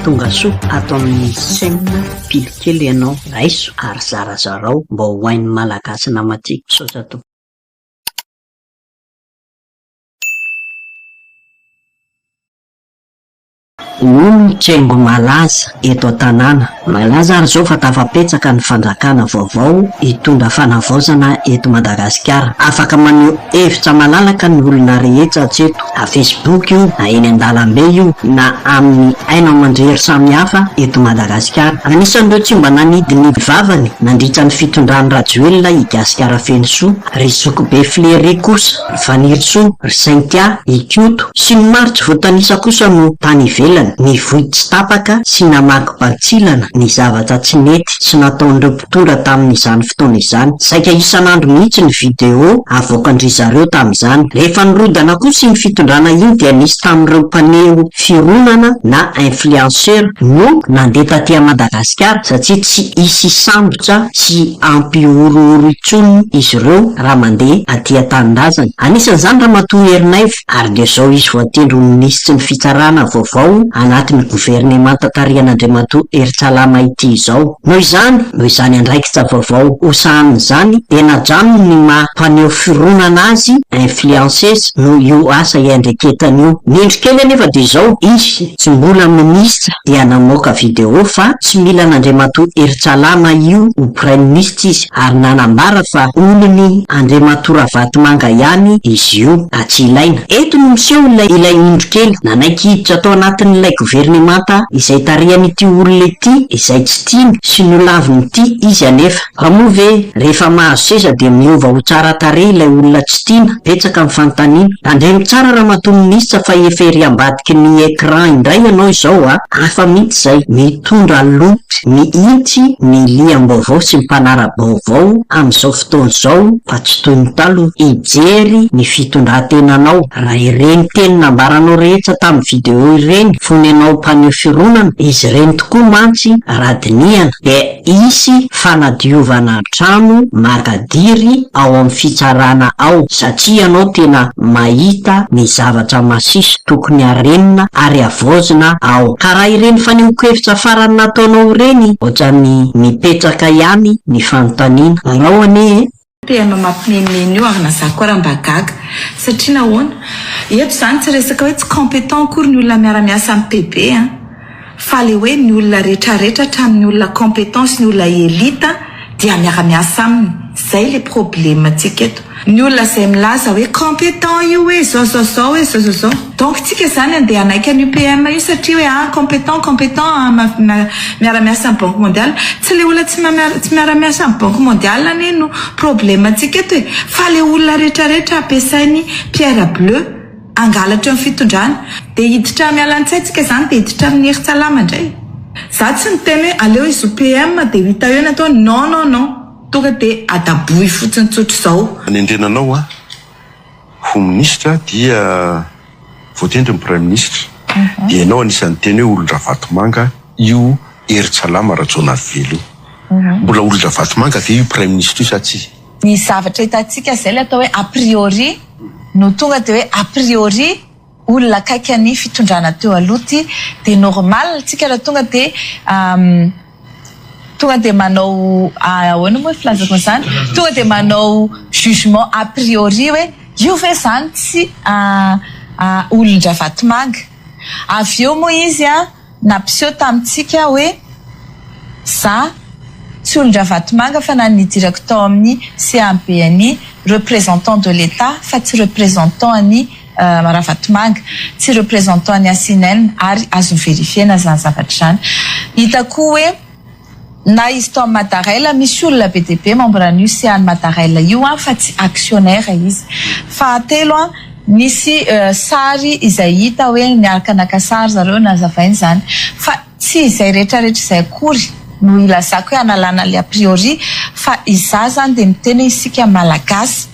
Tongasoa ato amin'ny chaîne pily kely ianao raiso ary zarazarao mba ho hain'ny malagasy namatiako. Misaotra tompoko. Olo tsengo malaza eto an-tanàna. Malaza ary izao fa tafapetsaka ny fandrakana vaovao hitondra fanavaozana eto Madagasikara. Afaka maneho hevitra malalaka ny olona rehetra hatreto, na Facebook io, na eny an-dalambe io, na amin'ny haino aman-drery samihafa eto Madagasikara. Anisan'ireo tsy mba nanidy ny vavany nandritra ny fitondran'i Rajoelina i Gasikara Fenosoa, ry zokibe Flery kosa. Fanirisoa, ry Saintia, Ikoto, sy ny maro tsy voatanisa kosa no tany ivelany, nivoy tsy tapaka sy namaky bantsilana ny zavatra tsy nety sy nataon'ireo mpitondra tamin'izany fotoana izany. Saika isan'andro mihitsy ny video avoakan-dry zareo tamin'izany. Rehefa nirodana kosa iny fitondrana iny dia nisy tamin'ireo mpaneho fironana na influenceurs no nandeha taty Madagasikara satria tsy hisy hisambo Sarotra tsy hampihorohoro intsony izy ireo raha mandeha aty an-tanindrazana. Anisan'izany Ramatoa Herinaivo ary dia izao izy voatendry ho minisitry ny fitsarana vaovao anatin'ny governemanta tarihan'Andriamatoa Heritsalama ity izao. Noho izany, noho izany andraikitra vaovao ho sahaniny izany dia nadranony ny maha mpaneho fironana azy, influences, noho io asa iandreketany io. Ny indro kely anefa dia izao, izy Tsy mbola minisitra dia namoaka video fa tsy mila an'Andriamatoa Heritsalama io ho praiminisitra izy ary nanambara fa olon'i Andriamatoa Ravatomanga ihany izy io atsy ilaina. Eto no miseho ilay ilay indro kely nanaiky hiditra tao anatin'ilay governemanta izay tarihan'ity olona ity izay tsy tiany sy nolavin'ity izy anefa. Fa moa ve rehefa mahazo seza dia miova ho tsara tarehy ilay olona tsy tiana? Betsaka ny fanontaniana. Tandremo tsara Ramatoa Minisitra fa efa ery ambadiky ny écran indray ianao izao a! Hafa mihitsy izay, mitondra loto mihitsy ny liam-baovao sy ny mpanara-baovao amin'izao fotoana izao fa tsy toy ny taloha. Hijery ny fitondran-tenanao raha ireny teny nambaranao rehetra tamin'ny video ireny fony ianao mpaneho fironana, izy ireny tokoa mantsy raha dinihana dia Hisy fanadiovana trano makadiry ao amin'ny fitsarana ao satria ianao tena mahita ny zavatra masiso tokony harenina ary havaozina ao. Ka raha ireny fanehoan-kevitra farany nataonao ireny ohatran'ny mipetraka ihany ny fanontaniana. Arao anie e! PM mampimenomenona io ary na za koa ary mba gaga. Satria nahoana? Eto izany tsy resaka hoe tsy competent akory ny olona miara miasa amin'ny PB an! Fa ilay hoe ny olona rehetra rehetra hatramin'ny olona competent sy ny olona elite dia miara miasa aminy. Izay ilay probleme ntsika eto. Ny olona izay milaza hoe competent io hoe zao zao zao hoe zao zao zao. Donc tsika izany andeha hanaiky an'i UPM io satria hoe ah compétent, compétent ah ma-ma miara miasa amin'ny banque mondiale. Tsy le olona tsy ma-miara tsy miara miasa amin'ny banque mondiale anie no problème ntsika eto e! Fa le olona rehetra rehetra ampiasain'i Pierre bleu hangalatra ny fitondrana. Dia hiditra miala an-tsay tsika izany dia hiditra amin'ny herin-tsalama indray. Za tsy niteny hoe aleo izy UPM dia ho hita eo ny ataony, non non non! Tonga dia adabohy fotsiny tsotra izao. Hanendrena anao aho. ho minisitra dia voatendry ny praiminisitra dia ianao anisan'ny niteny hoe olon-dRavatomanga io Heritsalama Rajaonarivelo io. Mbola olon-dRavatomanga ve io praiminisitra io sa tsia? Ny zavatra hitantsika izay ilay atao hoe a priori no tonga dia hoe a priori olona akaiky any fitondrana teo aloha ity dia normal tsika raha tonga dia tonga dia manao ahoana moa filazako an'izany tonga dia manao jugement a priori hoe io ve izany tsy olon-dRavatomanga avy eo moa izy an Nampiseho tamintsika hoe za tsy olon-dRavatomanga fa na nidirako tao amin'ny CABNI, représentant de l'Etat fa tsy représentant an'i Ravatomanga, tsy représentant an'i Asinelm ary azo verifier-na izany zavatra izany. Hita koa hoe. Na izy tao amin'ny Madarella misy olona be dia be membre an'io sehan'ny Madarella io an, fa tsy actionnaire izy. Fahatelo an, nisy sary izay hita hoe niaraka naka sary zareo nazavaina izany. Fa tsy izay retraretra izay akory no ilazako hoe analana ilay a priori fa izaho izany dia miteny hoe isika Malagasy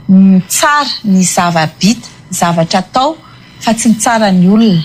mitsara ny zava-bita, zavatra atao fa tsy mitsara ny olona.